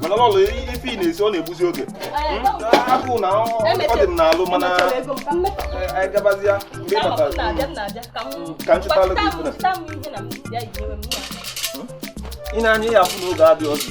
mana Lọọlọ ife ị na-esi ọ na-egbuzi oge agụụ na ọ dị m n'alụ mana anyị gabazia mgbe ị batara ka m chụtalụ gị ife na ị na-anya ya afụ n'oge adịghị ọzọ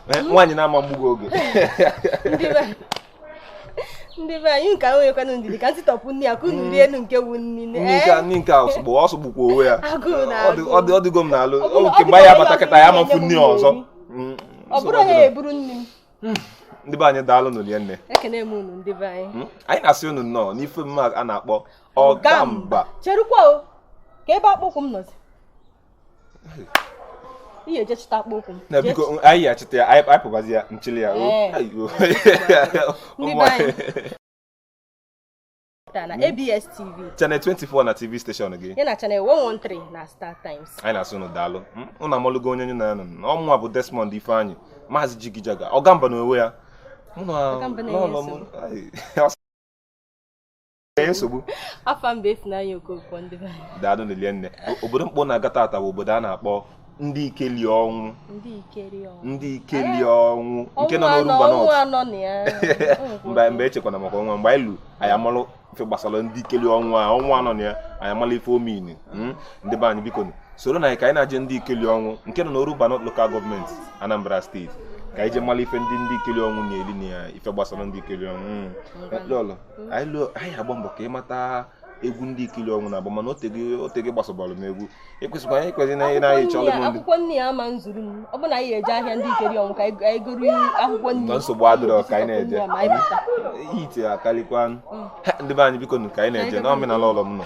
Eh, nwaanyị na-ama mgbugo oge ndị be anyị nke ahụ nwekwanụ ndidi ka m sitopu nni ya ka unu rie enu nke wu nri nne nke nri nke a sọgbu ọ sọgbukwa onwe ya ọ dịgo m n'alụ nke mgbe ya bata kịta ya amafu nri ọzọ mm, ọ bụrụ onye ya eburu nri m hmm, ndị be anyị daalụ nụ rinne ekene m unu ndị be anyị hmm, anyị na-asị unu nnọọ n'ife mme a na-akpọ Ọgamba cherukwa o kee ebe akpụkwụ m nọzi ị ya-eje chịta akpụkwụ m na biko anyị achịta ya anyị pụbazi ya nchili ya na ABS TV channel 24 na TV station gị ya na channel 113 na Star Times anyị na-asị unu daalụ unu amalụgo onye unu na ya nọ ọ mụnwa bụ Desmond Ifeanyi maazị Jigijaga Ọgamba n'onwe ya mụ na nsogbu afa m bụ Ifunanya Okonkwo ndị be anyị daalụ nụ rinne obodo m kpọ unu aga tata bụ obodo a na-akpọ Ndikelionwu Ndikelionwu nke nọ n'Orumba mba mba echekwana maka ọnwa mgbe anyị lu anyị amalụ ife gbasara Ndikelionwu a ọnwa anọ na ya anyị amalụ ife omini hmm? ndị be anyị biko soronụ anyị ka anyị na-aje Ndikelionwu nke nọ n'Orumba North Local Government Anambra State ka anyị je malụ ife ndị Ndikelionwu na-eli na ya ife gbasara Ndikelionwu hmm. anyị agba mbọ ka ị mata egwu Ndikelionwu na-agba mana o tego ị gbasabalụ m egwu ekwesịkwa anyị kwesịrị na anyị na-anyị chọrọ m akwụkwọ nni ya ama nzuru m ọ bụ na anyị eje ahịa Ndikelionwu ka anyị goro akwụkwọ nni nsogbu adịrọ ka anyị na-eje ite akarịkwa mm. ndị be anyị biko ka anyị na-eje na omenala ọlọm nọ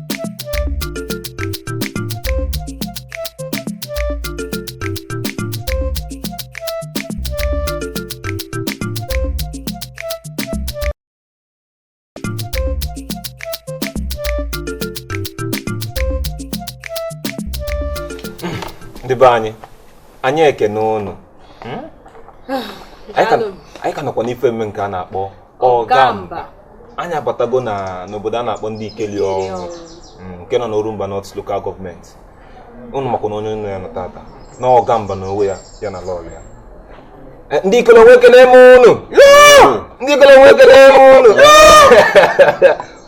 ndị be anyị anyị ekene ụnụ hmm? anyị ka nọkwa n'ife mme nke a na-akpọ Ọgamba anyị abatago na n'obodo a na-akpọ Ndikelionwu mm, nke nọ n'Orumba North Local Government ụnụ makwa na onye unu na ya nọ tata na Ọgamba n'onwe ya ya na Lọọlọ ya Eh, Ndikelionwu ekene m unu Ndikelionwu ekene m unu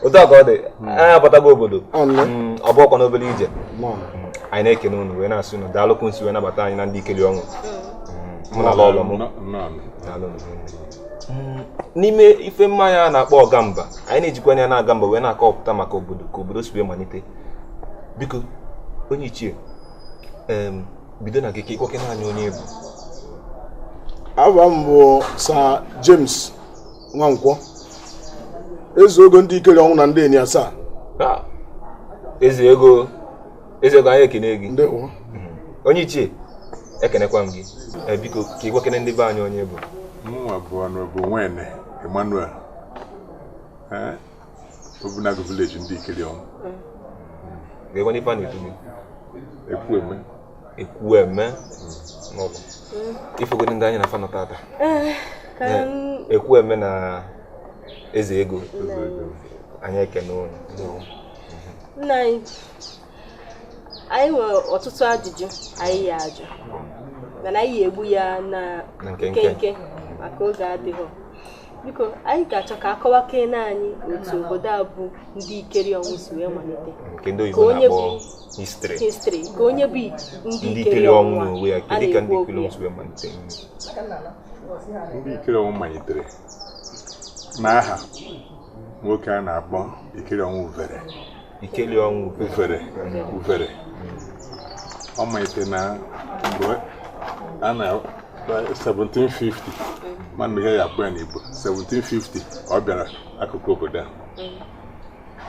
otu a ka ọ dị anyị abatago obodo Mm, ọ bụrọkwanụ obere ije Mm, anyị na-ekene unu wee na-asị unu daalụ ka unu si wee nabata anyị na Ndikelionwu mụ na Lọọlọ m Nnọọ. daalụ unu. Mm, n'ime ife omume anyị a na-akpọ ọgamba anyị na-ejikwanụ ya na-aga mba wee na-akọpụta maka obodo ka obodo si wee malite biko onye ichie bido na gị ka ị kọwakene anyị onye ị bụ afa m bụ Sir James Nwankwọ eze ogo Ndikelionwu na Ndieni asaa ah, eze ego Eze ego anyị ekene gị. Ndewo. Mhm. Onye ichie ekenekwa m gị. Eh, biko ka ị gwakene ndị be anyị onye ị bụ. Mụnwa bụ onye bụ Nwene Emmanuel. Eh? Obunagu village Ndikelionwu. Kee kwanụ ife a na-etu gị. Ekwueme. Ekwueme. N'ọgwụ. Ị fụgodu ndị anyị na fa nọ tata. Eh, eh, Ekwueme na eze ego. Anyị ekene unu. Nna anyị anyị nwere ọtụtụ ajụjụ anyị ya-ajụ mana anyị ya-egbu ya na nkenke maka oge adịghị biko anyị ga-achọ ka a kọwakene anyị otu obodo a bụ Ndikelionwu si wee malite nke ndị oyibo na-akpọ history kee onye bụ Ndikelionwu a na-ekwu okwu ya Ndikelionwu malitere n'aha nwoke a na-akpọ Ikelionwu Ufere Ikelionwu Ufere Ufere ọ malitere na mgbe a na 1750 m maghị ihe a ya-akpọ ya n'Igbo 1750 ọ bịara akụkụ obodo a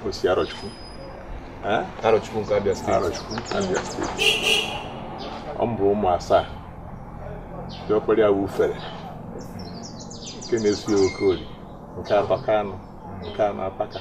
o si Arọchukwu Arọchukwu nke Abia steeti Arọchukwu Abia steeti ọ mụrụ ụmụ asaa diọkpara ya Ufere nke na-eso ya Okoli nke atọ Kanụ nke anọ Apaka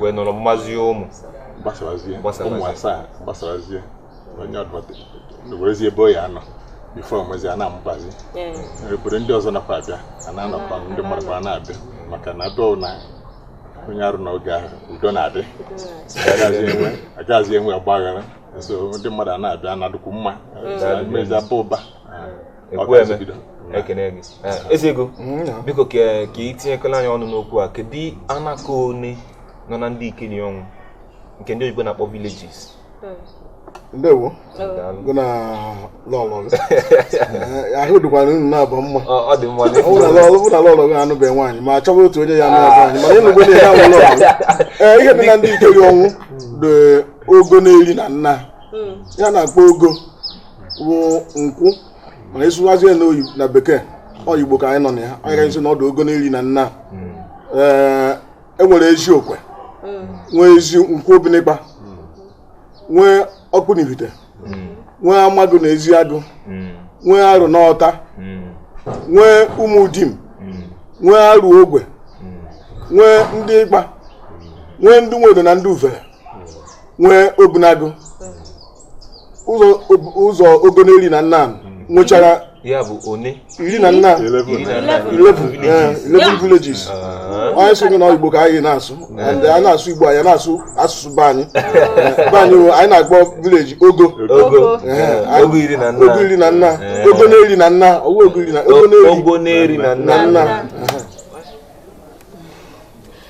wee nọrọ mụbazie ụmụ gbasazie ụmụ asaa gbasazie onye ọ bụla werezie ebe ọ ya-anọ before onwezi a na-amụbazi obodo ndị ọzọ anakwa abịa a na-anọkwa ndị mmadụ kwa na-abịa maka na abịa na onye Arọ n'oge ahụ udo na-adị agaghịzi enwe ọgbaghara so ndị mmadụ a na-abịa na-adụkwu mma mezi aba ụba ekene gị eze ego mm, biko ka ị tinyekwalụ anyị ọnụ n'okwu a kedu anaka one nọ na Ndikelionwu nke ndị oyibo na-akpọ villages hmm. ndewo gị na lọlọ eh, ahụ dịkwara unu naabọ mma ọ dị mma ọ na lọlọ bụ na lọlọ gị anụbeghị nwaanyị ma achọba otu onye ya na-abụ anyị mana ịnụgbo na ihe awụ lọlọ ee ihe dị na Ndikelionwu dị ogo n'iri na nnaa hmm. ihe a na-akpọ ogo bụ nkwụ mana ịsụwazie na oyi na bekee ọ igbo ka anyị nọ na ya anyị ga-asị na ọ dụ ogo n'iri na nna ee e nwere ezi okwe nwee ezi nkwụ obinịkpa nwee ọkpụ na ivite nwee amagụ na ezi agụ nwee arụ na ọta nwee ụmụ dim nwee arụ ogwe nwee ndị ịkpa nwee ndị nwedo na ndị uvere nwee obunagụ ụzọ ogo n'iri na nna nwechara ya bụ one iri na nna 11 villages anyị sị na igbo ka anyị na-asụ and a na-asụ igbo anyị na-asụ asụsụ be anyị be anyị anyị na-akpọ village ogo ogo iri na nna ogo iri na nna ogo n'iri na nna ogo ogo na nna nna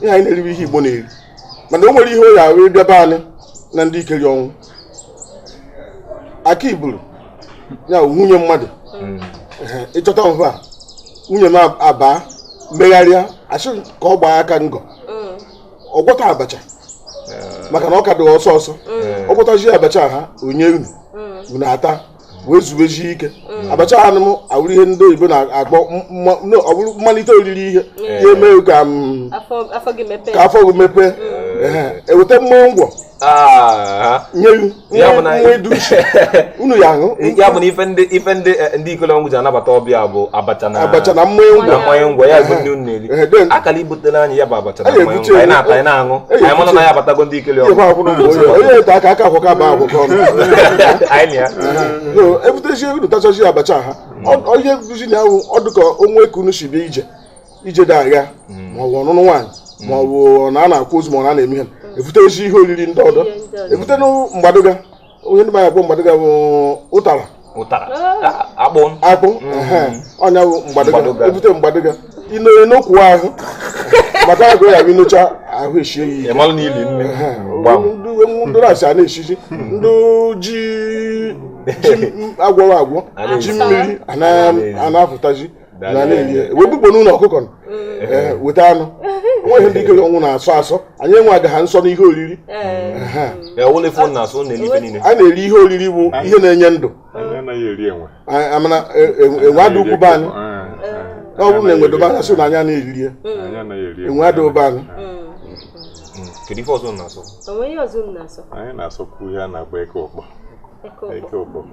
ihe anyị na-eri wụ ihe igbo na-eri mana o nwere ihe ọ ya-awụ ị bịa be anyị na ndị ikelionwu aka iburu ya nwunye mmadụ hmm. ị chọta mfe a nwunye m abaa megharịa a sị ka ọ gbaa aka ngọ hmm. ọ gwọta abacha eh. maka na ọ ka dị ọsọ ọsọ hmm. ọ gwọtazi abacha ahụ ọ nye unu unu ata wee zuwezie ike mm. abacha ahụ awụrụ ihe ndị oyibo na-akpọ ọ bụrụ mmalite oriri ihe mm. ya eme ka mm, afọ gị mepee eweta mmanya ngwọ ah. nye nwa edu uche unu ya-aṅụ ya bụ na ife ndị eh, ikelionwu ji anabata ọbịa bụ abacha na mmanya ngwọ ya bụ ndị unu a kara ibutere anyị ya bụ abacha anyị na-ata anyị na-aṅụ anyị mara na anyị abatago ndị ikelionwu onye ete aka aka akwụkwọ aba akwụkwọ ọnụ ebutezi unu tachazi abacha ahụ onye bụzi na ahụ ọ dịka o nwe ka unu si bịa ije ije dị agha ma ọ bụ ọnụnụ nwaanyị ma ọ bụ na a na-akwa ozu ma ọ na-eme ihe ebutezi ihe oriri ndị ọdọ ebute mgbadụga onye ndị mmadụ mgbadụga bụ ụtara ụtara akpụ akpụ mm-hmm. ọ nya bụ mgbadụga ebute mgbadụga ịnọrọ n'okwu ahụ maka agụ ya bụ i nocha ahụ eshie ya ike ndị na-asị a na-eshizi ndị ji a gwọrọ agwọ ji mmiri a na-apụtazi wee bukpo n'ụlọ ọkụkọ weta anụ o nweghị ndị ikelionwu na-asọ asọ anyị enwegaghị nsọ n'ihe oriri a na-eri ihe oriri bụ ihe na-enye ndụ amana e, e, enwe adị ukwu be anyị ọ bụrụ na enwe dụ be anyị sị na anyị na-eriri ya enwe adị be anyị kedu ife ọzọ na-asọ anyị na-asọkwu ihe a na-akpọ eke ụkpọ eke ụkpọ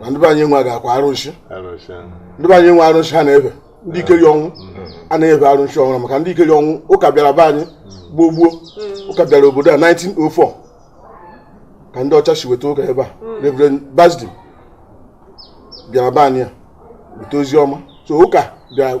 na ndị be anyị nwegakwa arụsị ndị be anyị nwe arụsị ha na-efe Ndikelionwu a na-efe arụsị ọhụrụ maka Ndikelionwu ụka bịara be anyị gboo gboo ụka bịara obodo a 1904 ka ndị ọcha si weta ụka ebe a Reverend Basden bịara be anyị ya weta ozi ọma so ụka bịara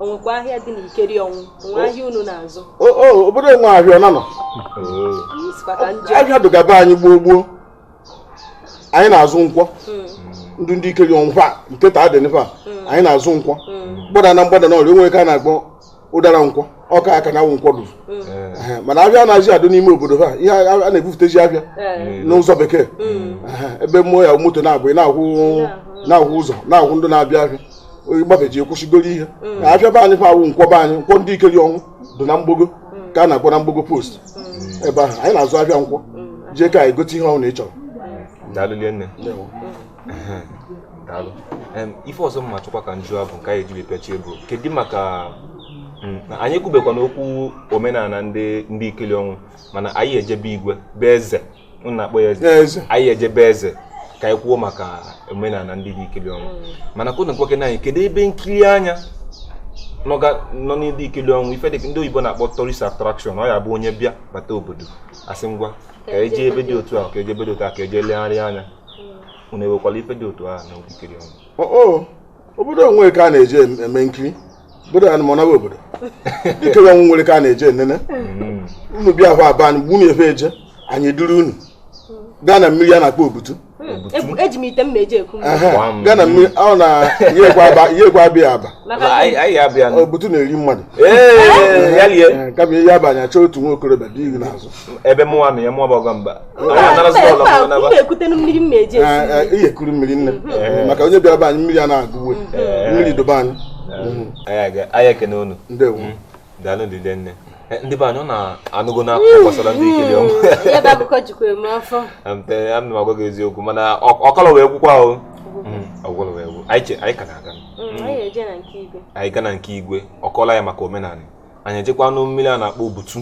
o nwekwa ahịa dị n'Ikelionwu o nwe ahịa unu na-azụ obodo enwe ahịa ọ nanọ ahịa dụga be anyị gboo gboo anyị na-azụ nkwọ hmm. ndị Ndikelionwu fa nke taa dị nfa hmm. anyị na-azụ nkwọ hmm. gbada na mgbada na ọrịa o nwe ka a na-akpọ Ụdara Nkwọ ọka aka na awụ nkwọ dụrụ eh, mana ahịa anazị adụ n'ime obodo ha ihe a na-ebufutezi ahịa eh. n'ụzọ bekee eh, ebe mmụọ ya moto na-abụ na-ahụ ụzọ na-ahụ ndị na-abịa ahịa gbafeje akwụsị goro ihe mm. na afịa be anyị fa awụ nkwọ be anyị nkwọ Ndikelionwu dị na mgbogo mm. ka a na-akpọ na mgbogo post mm. ebe ahụ anyị na-azụ afịa nkwọ jee ka anyị gote ihe ọ wụna ị chọrọ ife ọzọ m na-achọkwa ka m jụọ bụ nke anyị ejiri pịachie bụ kedu maka mm, anyị ekwubekwanụ okwu omenala Ndikelionwu mana anyị ejee be igwe be eze unu na-akpọ ya eze anyị ejee be eze ka anyị kwuo maka omenala ndị Ndikelionwu mana ka unu gwakene anyị kedu ebe nkiri anya nọ na Ndikelionwu ife dịka ndị oyibo na-akpọ tourist attraction ọ ya bụ onye bịa bata obodo a sị ngwa ka e jee ebe dị otu a ka e jee ebe dị otu a ka e jee legharịa anya unu enwekwara ife dị otu ahụ na Ikelionwu obodo nwere ka a na-eje eme nkiri obodo anyị nọnwa obodo Ikelionwu nwere ka a na-eje enene hmm. unu bịa hụ aba anyị gbunu efe eje anyị duru unu gaa na mmiri a na-akpọ Obutu eji m ite m na-eji eku gaa na mmiri ọ na yekwa abịa aba Obutu na-eri mmadụ kama ihe abanye achọ otu nwa okorobịa dị ihu n'azụ ebe mụwa na ya mụwa bụ Ọgamba iyekuru mmiri nne maka onye bịara be anyị mmiri a na-agụwe mmiri dụ be anyị anyị ekene unu daalụ ndị nne ndị be anyị unu anụgonụ akụkọ gbasara Ndikelionwu ana m agwa gị eziokwu mana ọ kọlọ wee gwụkwa ahụ ọ gwụlọ wee gwụ anyị ka na-aga anyị gaa na nke igwe ọ kọọla anyị maka omenala anyị ejekwanụ mmiri a na-akpọ Obutu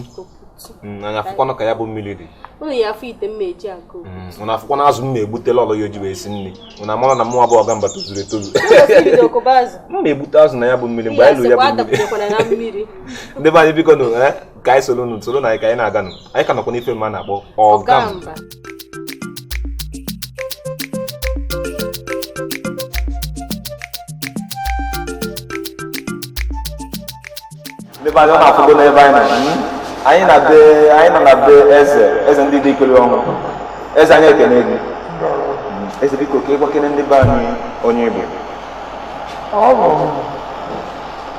mm, anyị afụkwanụ ka ya bụ mmiri dị unu ya-afụ ite m na-eji eku mm, unu afụkwanụ azụ m na-egbutela lọọlọ ya o ji wee sie nri unu amara na mụ bụ Ọgamba tozuru etozu m na-egbute azụ na ya bụ mmiri mgbe anyị ruru ya bụ mmiri ndị be anyị bikonụ eh, ka anyị soro unu soronụ anyị ka anyị na-aganụ anyị ka nọkwa n'ife m na-akpọ Ọgamba be anyị unu afụgo n'ebe anyị nọ anyị nọ na be eze eze ndị Ndikelionwu eze anyị ekene gị eze biko ka ị gwakene ndị be anyị onye ị bụ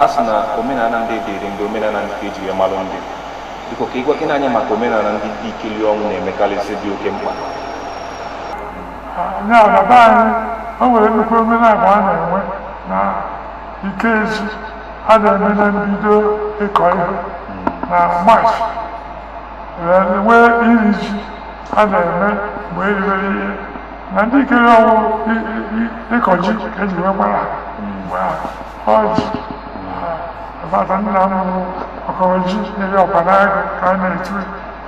a sị na omenala ndị dịrị ndị omenala nke eji malụ ndị biko ka ị gwakene anyị maka omenala ndị Ndikelionwu na-emekarịsị dị oke mkpa nya na be anyị o nwere nnukwu omenala a na-enwe na Ikeji a na-eme na mbido ịkọ ihe na March wee nwee iri ji a na-eme mgbe eribere ihe na Ndikelionwu i- i- i- ịkọ ji ka eji wee gbara ha mgbe ahụ ọjị bata nna m bụ ọkọrọ ji nyere ọkpa n'agụ ka a na-etu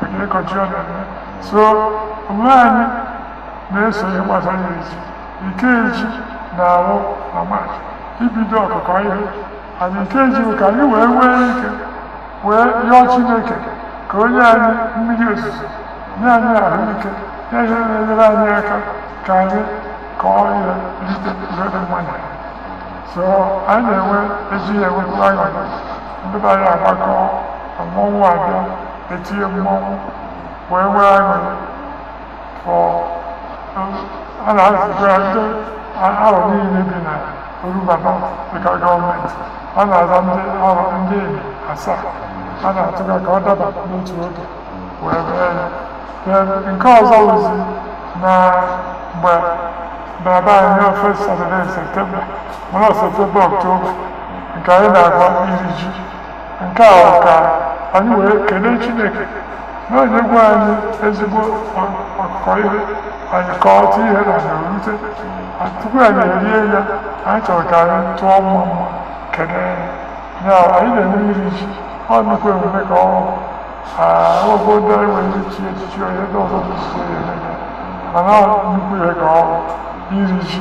maka ịkọ ji ọ na-eme so omume anyị na-eso ihe gbasara iri ji Ikeji na-awụ na March ibido ọkụkọ ihe anyị Ikeji bụ ka anyị wee nwee ike wee yọọ Chineke ka o nye anyị mmiri ozuzo nye anyị ahụike nye ihe na-enyere anyị aka ka anyị kọọ ihe rite ihe dị mma na ya so anyị na-enwe eji ya enwekwu aṅụrị ndị be anyị agbakọ mmọnwụ abịa etinye mmọnwụ wee nwee aṅụrị fọ a na-azụta ndị Arọ niile bi na Orumba local government a na-aza ndị Arọ Ndieni asaa a na-atụga ka ọ daba n'otu oge wee mee ya Then nke ọzọ wụzi na mgbe baba anyị na first Saturday in September mana September October nke anyị na-agba iri ji nke a bụ ka anyị wee kelee chineke na o nyego anyị ezigbo ọkụkọ ihe anyị kọọta ihe na na-erute tupu anyị erie ya anyị chọrọ ka anyị tụọ mmamma kelee ya anyị na-eme iri ji ọ nnukwu emume ka ọ ọgwụgwọ ndị anyị nwere ichi echichi onye ndị ọzọ bụ isi ya eme mana nnukwu ihe ka ọ iri ji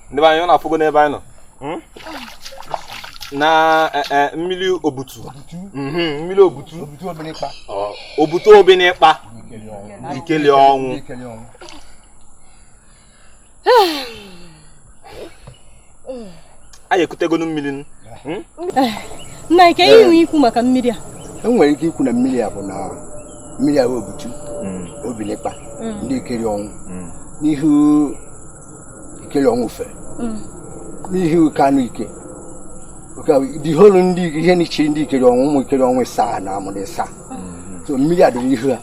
ndị be anyị unu afụgo n'ebe anyị nọ hmm? na eh, eh, mmiri Obutu mhm, mmiri Obutu Obutu Obinikpa Ikelionwu anyị ekutegonu mmiri hmm? eh, nna ike ihe nwe ikwu maka mmiri a enwere ike ikwu na mmiri a bụ na mmiri a Obutu hmm. Obinikpa Ndikelionwu n'ihu Ikelionwu fe mm. n'ihi oke anụ ike the whole ndị ihe n'ichiri Ndikelionwu ụmụ Ikelionwu saa na amụrụ ịsa mm. so mmiri a dịrị ihu ha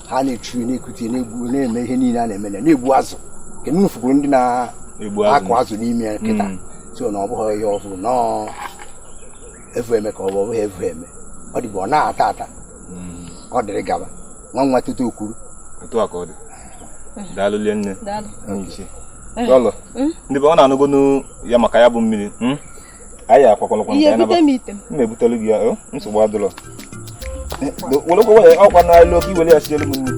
ha na-echu na-ekute na-egbu na-eme ihe niile a na-eme na-egbu azụ nke na unu fukwuru ndị na-akụ azụ n'ime ya kịta mm. so na ọ bụghị ihe ọhụrụ nọọ evu eme ka ọ bụ ọ bụghị evu eme ọ dịbụ ọ na-ata ata ọ dịrị gaba nwa nwa kịta okwuru otu a ka ọ dị daalụ linne ichie daalụ hmm? ndị be unu anụgonu ya maka ya bụ mmiri hmm? anyị akwakwalakwa nke anyị naba m na-ebutelu gị ya oh, nsogbu adịlọ eh, werekwa waya ọkwa naluo ka i were ya sielu m nri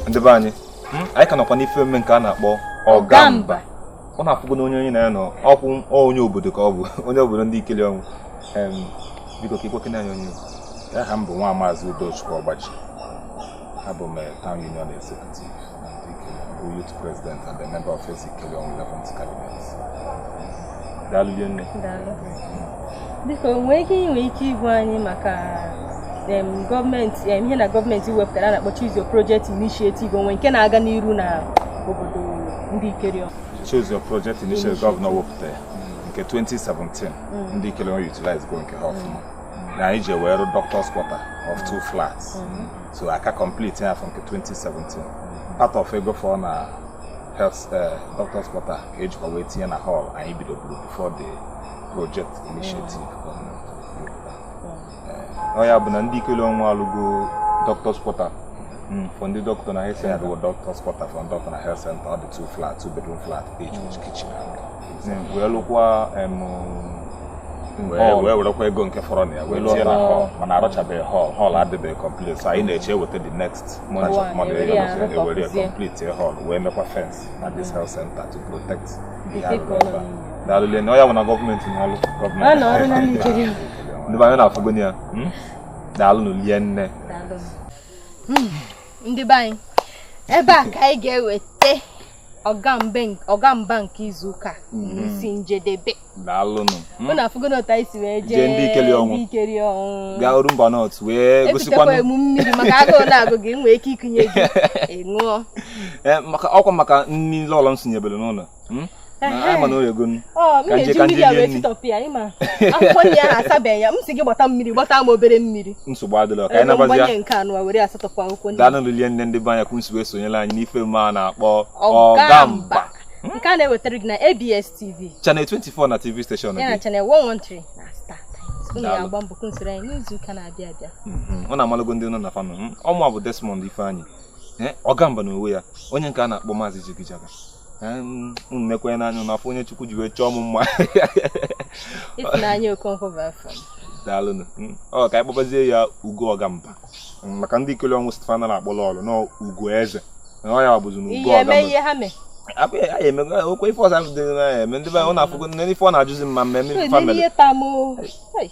ndị be anyị hmm? anyị ka nọkwa n'ife mme nke a na-akpọ Ọgamba unu afụgo na onye anyị na ya nọ ọkwa onye obodo ka ọ bụ onye obodo Ndikelionwu biko ka i gwakene anyị onye aha m bụ nwa maazị Udochukwu Ọgbaji abụ m eh, town union executive bụ youth president and a member of Eze Ikelionwu 11th cabinet daalụ nne biko nwee ike i nwe ike ịgwa anyị maka gọọmenti ihe na gọọmenti wepụtara a na-akpọ Choose Your Project Initiative o nwe nke na-aga n'iru na obodo Ndikelionwu Choose Your Project Initiative gọvanọ wepụta ya nke 2017 mm. Ndikelionwu utilize go nke ha ọfụma mm. na anyị ji wee rụ doctors quarter of two mm. flats so a ka complete ya afọ nke 2017 part of ego fọ na health eh, doctors quarter ka e jikwa wee tinye na hall anyị bidoburu before the project initiative ọ ya bụ na Ndikelionwu alụgo doctors quarter hmm, for ndị dọkịta na health center bụ doctors quarter for dọkịta na health center ọ dị two flat two bedroom flat each with kitchen hmm, wee lụkwa wee werekwa ego nke fọrọ na ya wee tinye na hall mana arụchabeghị hall hall adịbeghị complete so anyị na-eche e weta the next money e were ya complete hall wee mekwa fence na this health center to protect daalụ linne ọ ya bụ na gọọmenti na-alụ gọọmenti ndị be anyị unu afụgo ya hmm? daalụnụ linne hmm, ndị be anyị ebe a ka anyị ga-eweta Ọgamba nke izu ụka hmm. isi njedebe unu afụgo otu anyị si wee jee Ndikelionwu gaa Orumba North wee gosikwa emume mmiri maka agụụ na-agụ gị nwee ike ikunye gị ị ṅụọ eh, ọkwa maka nri lọlọ m sinyebere n'ụlọ hmm? anyị ma na o yego ka nje ka nje rie nri akwụkwọ nri ahụ asabeghị ya m si gị gbata mmiri gbata m obere mmiri nsogbu adịrọ ka anyị nabazia nke anyị were asatọpụ akwụkwọ nri daalụnụ linne ndị be anyị ka unu si wee sonyela anyị n'ife mme a na-akpọ Ọgamba nke a na-ewetara gị na ABS TV channel 24 na TV station ya na channel 113 na StarTimes unu ga-agba mbọ ka unu soro anyị n'izu ụka na-abịa abịa unu amalago ndị unu na fa nọ ọ mụa bụ Desmond Ifeanyi Eh, ọgamba na onwe ya onye nke a na-akpọ maazị jigijaga eh, mm, nekwee n'anya na-afụ onye chukwu ji wee chọọ m mma ịfụnanya okonkwo bụ afọ daalụnụ mm, ọ ka anyị kpọbazie ya ugo ọgamba mm, maka ndikelionwu stefana na-akpọ lọọlọ na ugo eze na ọ ya bụzi na ugo ọgamba abụghị ya eme okwe ife ọzọ ahụ dị na-eme ndị be ọ na-afụgo nne ife ọ na-ajụzi mma mmemme family